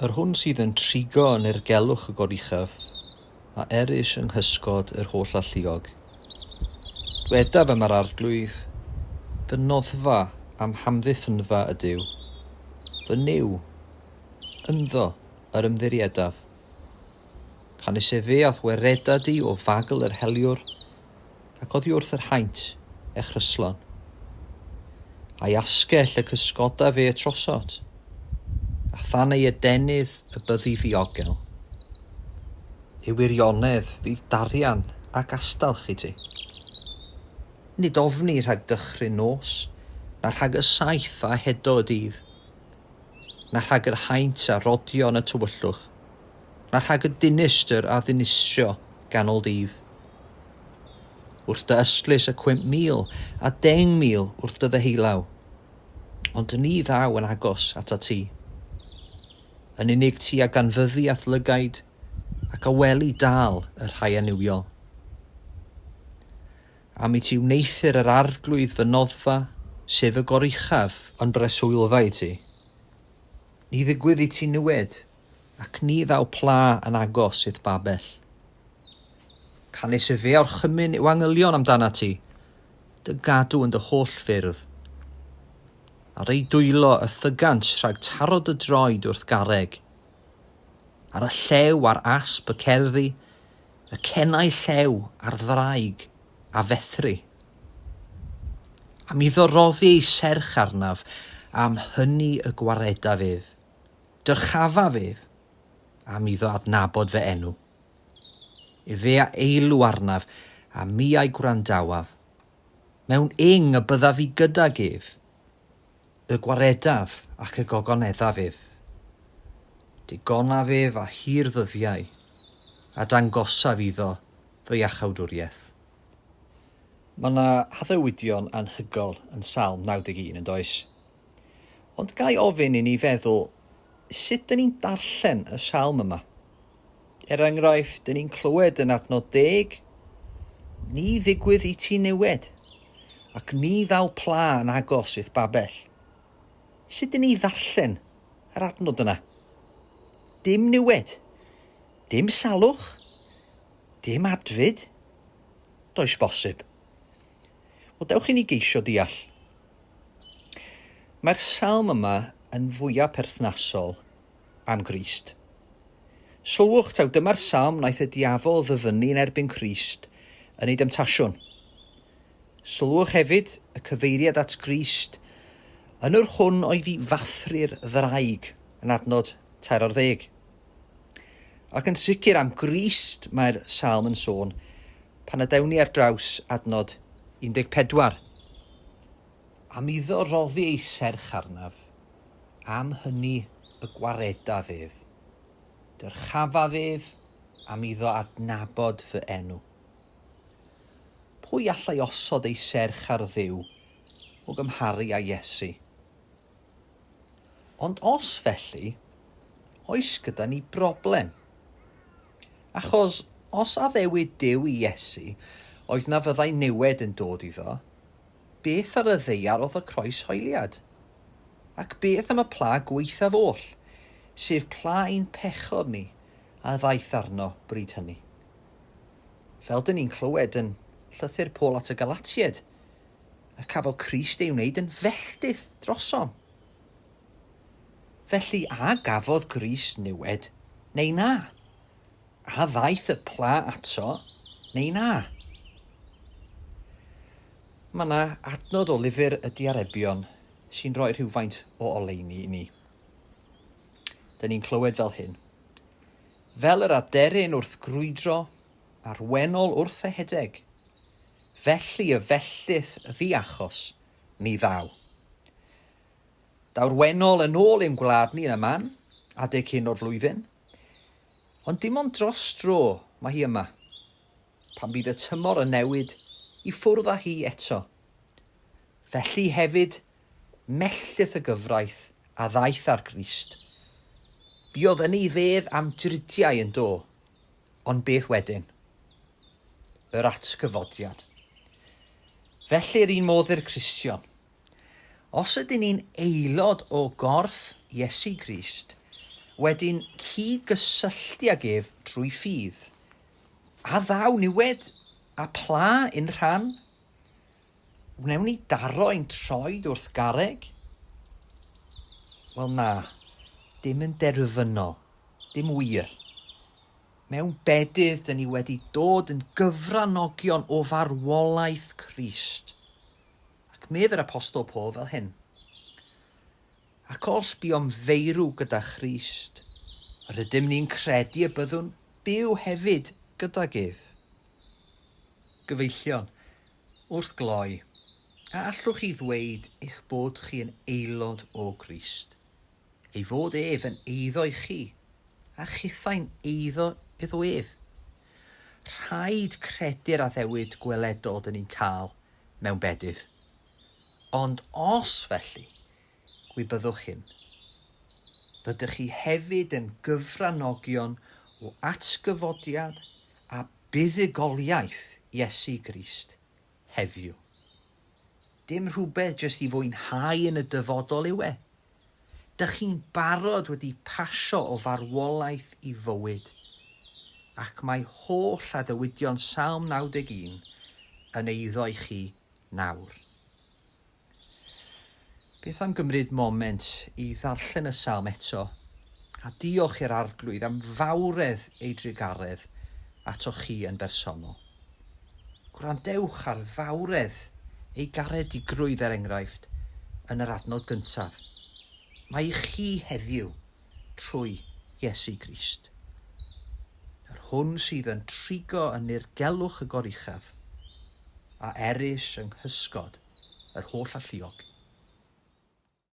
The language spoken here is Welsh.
Yr hwn sydd yn trigo yn ergelwch y goruchaf, a erys yng nghysgod yr holl alluog. Dwedaf am yr arglwydd, fy noddfa am hamddiffynfa ydyw, fy Nuw, ynddo yr ymddiriedaf. Canys efe a'th wereda di o fagl yr heliwr, ac oddi wrth yr haint, e chryslon. A'i asgell y cysgoda fe y trosot, a than ei adenydd y byddi ddiogel. Y wirionedd fydd darian ac astalch i ti. Nid ofni rhag dychryn nos, na rhag y saeth a hedo y dydd. na rhag yr haint a rodio yn y tywyllwch, na rhag y dinistr a ddinistrio ganol dydd. Wrth dy ystlys y cwymp mil a deng mil wrth dy ddeheullaw, ond ni ddaw yn agos at a ti. Yn unig ti a ganfyddi a'th lygaid, ac a weli dal y rhai aniwiol. Am i ti wneuthur yr Arglwydd fy noddfa, sef y goruchaf? Yn breswylfa i ti. Ni ddigwydd i ti niwed, ac ni ddaw pla yn agos i'th babell. Canys y fe orchymyn yw angylion amdanat ti, dy gadw yn dy holl ffyrdd. Ar eu dwylo y thygant rhag taro dy droed wrth garreg, Ar y llew ar asp y cerddi, y cennau llew ar ddraig a fethri. Am iddo roddi ei serch arnaf, am hynny y gwaredaf ef, dyrchafaf ef, am iddo adnabod fy enw. Efe a eilw arnaf, a mi a'i gwrandawaf, Mewn ing y byddaf i gydag ef, y gwaredaf ac y gogoneddaf ef. Digonaf ef a hir ddyddiau, a dangosaf iddo fy iachawdwriaeth. Mae yna haddewidion anhygoel yn Salm 91, yn does? Ond ga i ofyn i ni feddwl sut dŷn ni'n darllen y salm yma? Er enghraifft, dyn ni'n clywed yn adnod deg, Ni ddigwydd i ti niwed, ac ni ddaw pla yn agos i'th babell. Sut dyn ni ddarllen yr adnod yna? Dim niwed, dim salwch, dim adfyd, does bosib. Wel, dewch i ni geisio deall. Mae'r salm yma yn fwyaf perthnasol am Grist. Sylwch, taw dyma'r salm wnaeth y diafol ddyfynnu yn erbyn Crist yn ei demtasiwn. Sylwch hefyd y cyfeiriad at Grist yn yr hwn oedd i fathru'r ddraig yn adnod tair ar ddeg. Ac yn sicr am Grist mae'r salm yn sôn pan adewn ni ar draws adnod 14. Am iddo roddi ei serch arnaf. am hynny y gwaredaf ef. Dyrchafaf ef am iddo adnabod fy enw. Pwy allai osod ei serch ar Dduw o gymharu â Iesu? Ond os felly, oes gyda ni broblem. Achos os addewid Duw i Iesu, oedd na fyddai niwed yn dod iddo, Beth ar y ddaear oedd y croeshoeliad? Ac beth am y pla gwaethaf oll, sef pla ein pechod ni a ddaeth arno bryd hynny? Fel dŷn ni'n clywed yn llythyr Paul at y Galatiaid, y cafodd Crist ei wneud yn felltith drosom. Felly, a gafodd Grist niwed, neu na? A ddaeth y pla ato neu na? Mae yna adnod o lyfr y Diarebion sy'n rhoi rhywfaint o oleuni i ni. Dyna ni'n clywed fel hyn. Fel yr aderyn wrth grwydro, a'r wenol wrth ehedeg, felly y felltith ddiachos ni ddaw. Daw'r Wennol yn ôl i'n gwlad ni yn y man adeg hyn o'r flwyddyn. Ond dim ond dros dro mae hi yma. Pan bydd y tymor yn newid i ffwrdd â hi eto. Felly hefyd, melltith y gyfraith a ddaeth â'r Grist. Buodd yn ei fedd am dridiau yn do. Ond beth wedyn? Yr atgyfodiad. Felly'r un modd i'r Cristion. Os ydyn ni'n aelod o gorff Iesu Grist, wedi'n cyd-gysylltu ag ef drwy ffydd, a ddaw niwed a pla i'n rhan, wnewn ni daro ein troed wrth garreg? Wel na, dim yn derfynol, dim wir. Mewn bedydd, dyn ni wedi dod yn gyfranogion o farwolaeth Crist. Ac medd yr Apostol Paul fel hyn, Ac os buom feirw gyda Christ, rydym ni'n credu y byddwn byw hefyd gydag ef. Gyfeillion, wrth gloi, a allwch chi ddweud eich bod chi yn aelod o Grist, ei fod ef yn eiddo i chi, a chithau'n eiddo iddo ef? Rhaid credu'r addewid gweledol dyn ni'n cael mewn bedydd. Ond os felly, gwybyddwch hyn, rydych chi hefyd yn gyfranogion o atgyfodiad a buddugoliaeth Iesu Grist heddiw. Dim rhywbeth jyst i fwynhau yn y dyfodol yw e, Dych chi'n barod wedi pasio o farwolaeth i fywyd, ac mae holl adewidion Salm 91 yn eiddo i chi nawr. Beth am gymryd moment i ddarllen y Salm eto, a diolch i'r Arglwydd am fawredd ei drugaredd ato chi yn bersonol. Gwrandewch ar fawredd ei garedigrwydd er enghraifft yn yr adnod gyntaf, Mae i chi heddiw trwy Iesu Grist. Yr hwn sydd yn trigo yn nirgelwch y goruchaf, a erys yng nghysgod yr holl alluog.